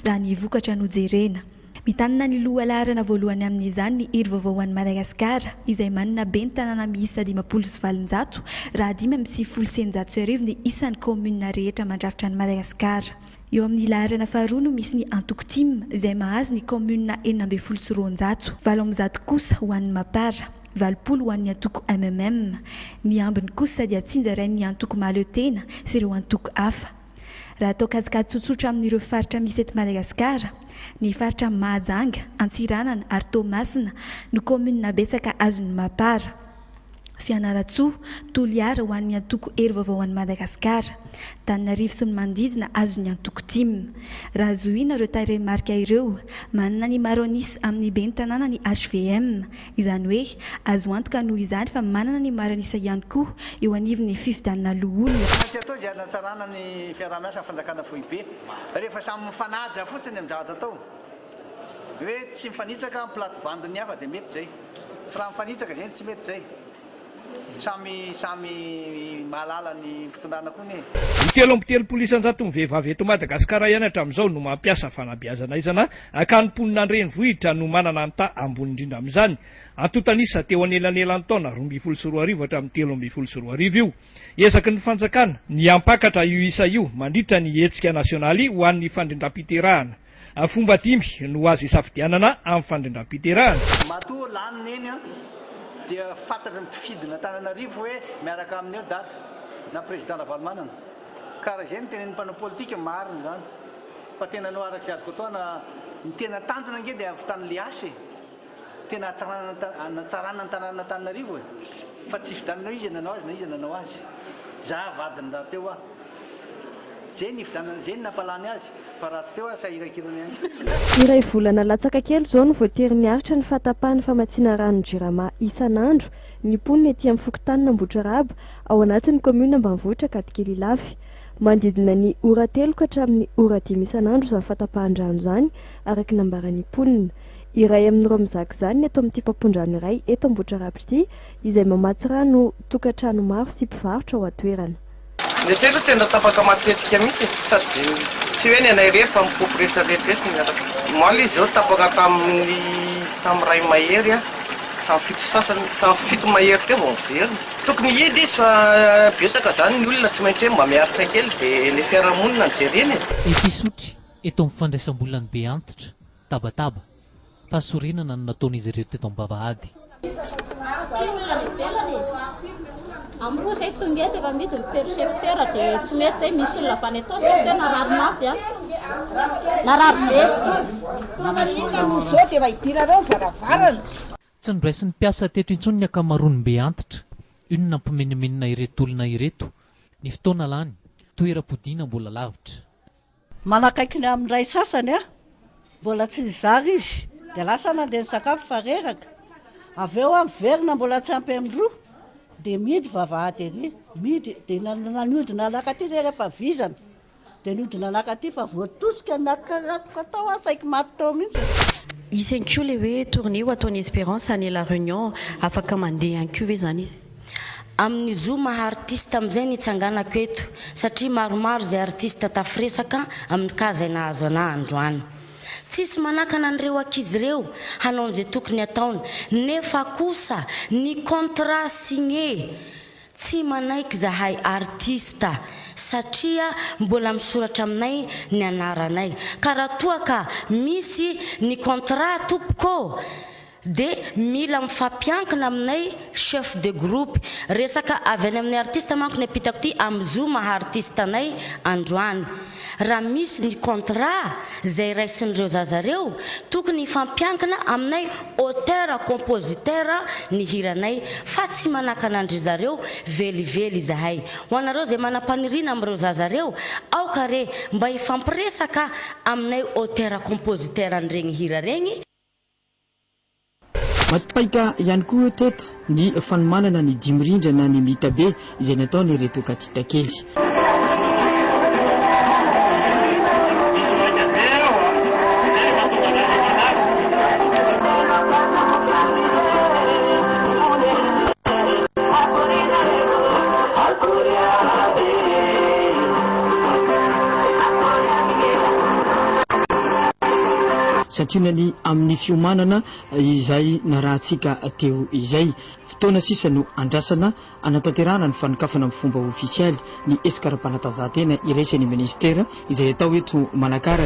Raha ny vokatra no jerena. Mitanana ny lohalaharana voalohany amin'izany ny Hery Vaovao ho an'i Madagasikara, izay manana ben'ny tanàna miisa dimampolo sy valonjato, raha dimy amby sivifolo sy eninjato sy arivo ny isan'ny kaominina rehetra mandrafitra an'i Madagasikara. Eo amin'ny laharana faharoa no misy ny antoko Tim, izay mahazo ny kaominina enina ambin'ny folo sy roanjato, valo amby zato kosa ho an'ny Mapar. Valopolo ho an'ny antoko MMM, ny ambiny kosa dia tsinjarain'ny antoko Mahaleo Tena sy ireo antoko hafa. Raha atao kajikajy tsotsotra amin'ireo faritra misy eto Madagasikara, ny faritra Mahajanga, Antsiranana ary Toamasina no kaominina betsaka azon'ny Mapar. Fianarantsoa, Toliara ho an'ny antoko Hery Vaovao ho an'i Madagasikara, Antananarivo sy ny manodidina azon'ny antoko tim. Raha zohiana ireo tarehimarika ireo, manana ny Maronis amin'ny ben'ny tanàna ny hvm, Izany hoe, azo antoka noho izany fa manana ny marina isa ihany koa eo anivon'ny fifidianana loholona. Tsy maintsy atao izay hanatsarana ny fiaraha-miasa amin'ny fanjakana foibe. Rehefa samy mifanaja fotsiny amin'ny zavatra atao, hoe tsy mifanitsaka amin'ny plate-bande-n'ny hafa dia mety izay, fa raha mifanitsaka izay no tsy mety izay. Samy samy mahalala ny fitondrana koa anie e. Ny telo amby telopolo isan-jaton'ny vehivavy eto Madagasikara ihany hatramin'izao no mampiasa fanabeazana aizana ka ny mponina an-drenivohitra no manana ny taha ambony indrindra amin'izany. Antontan'isa teo anelanelan'ny taona roa ambin'ny folo sy roa arivo hatramin'ny telo ambin'ny folo sy roa arivo io. Ezaky ny fanjakana ny hampakatra io isa io mandritra ny hetsika nasionaly ho an'ny fandrindram-piterahana. Fomba dimy no azo isafidianana amin'ny fandrindram-piterahana. Matoa lany neny an, dia fantatry ny mpifidin'Antananarivo hoe miaraka aminy eo daty na président Ravalomanana. Ka raha izay no tenenin'ny mpanao politika, marina izany. Fa tena anao araka izay azoko atao na ny tena tanjona ange dia avy tany Liasy e! Tena natsarana ny tanàna Antananarivo e! Fa tsy hividianana hoe iza nanao azy na iza nanao azy. Za vadiny raha teo aho. Ze nividianana, ze nampalany azy, fa raha tsy teo aho sahirakirana ihany. Iray volana latsaka kely izao no voatery niaritra ny fahatapahan'ny famatsiana ranon'ny Jirama isan'andro ny mponina ety amin'ny fokontanin'Ambohitraraba ao anatin'ny kaominina ambanivohitra Ankadikely Ilafy. Manodidina ny ora telo ka hatramin'ny ora dimy isan'andro izany fahatapahan-drano izany, araka ny nambaran'ny mponina. Iray amin'ireo mizaka izany ny eto amin'ity mpampondrano iray eto Ambohitrarapy ity izay mamatsy rano tokantrano maro sy mpivarotra ao an-toerana. Ny aty aloha tena tapaka matetika mihitsy e, sady dia tsy hoe ny anay irery fa mipompy retsaretra eto miaraka. Omaly izy izao tapaka tamin'ny tamin'ny iray mahery an, tamin'ny fito sasany, tamin'ny fito mahery teo vao niverina. Tokony hihidy izy fa betsaka izany ny olona tsy maintsy hoe mba miaritra kely dia ny fiarahamonina no jerena e. Episotry, eto amin'ny fandraisam-bolan'ny be antitra. Tabataba, fahasorenana no nataon'izy ireo teto am-bavahady. Aty olona any ivelany e. Amin'ny roa izay tonga eto efa mihidy ny percepteur dia tsy mety izay misy olona avy any Itaosy sao teo narary mafy an. Narary be. Maninona moa izao dia efa idirarao ny varavarana. Tsy noraisin'ny mpiasa teto intsony ny ankamaroan'ny mbe antitra. Inona hampimenomenona ireto olona ireto. Ny fotoana lany. Toeram-podiana mbola lavitra. Manakaiky ny amin'ny iray sasany aho, mbola tsy nizara izy, dia lasa nandeha nisakafo fa reraka, avy eo aho miverina mbola tsy ampy amin'ny roa, dia mihidy vavahady ery, mihidy, dia nihodina naka aty zay rehefa vizana, dia nihodina naka aty fa voatosika ny nakaratoko tao aho, saiky maty tao mihitsy. Hisy ihany koa ilay hoe tournée ho ataon'i Espérance any La Réunion, afaka mandeha ihany koa ve izany izy? Amin'ny zo maha artista amin'izay ny itsanganako eto satria maromaro izay artista tafiresaka amin'ny cas izay nahazo anah androany. Tsisy manakana an'ireo ankizy ireo hanao an'izay tokony ataony nefa kosa ny contrat signe tsy manaiky izahay artista satria mbola misoratra aminay ny anaranay ka raha toa ka misy ny contrat tompoko ô! Dia mila mifampiankina aminay chef de groupe. Resaka avy any amin'ny artiste manko ny ampitako ity amin'ny zo maha artiste anay androany. Raha misy ny contrat izay raisin'ireo zaza ireo, tokony hifampiankina aminay auteur compositeur ny hiranay fa tsy manakana an-dry zareo velively izahay. Ho anareo izay manam-paniriana amin'ireo zaza ireo, aoka re mba hifampiresaka aminay auteur compositeur an'iregny hira regny, Maty-paika ihany koa teto ny fanomanana ny dimy rindra na ny mita be izay nataon'ireto katitakely. Santionany ny amin'ny fiomanana izay narahantsika teo izay. Fotoana sisa no andrasana hanatanterahana ny fanokafana amin'ny fomba ofisialy ny esikaram-panatanjahantena iraisan'ny Minisitera izay atao eto Manakara.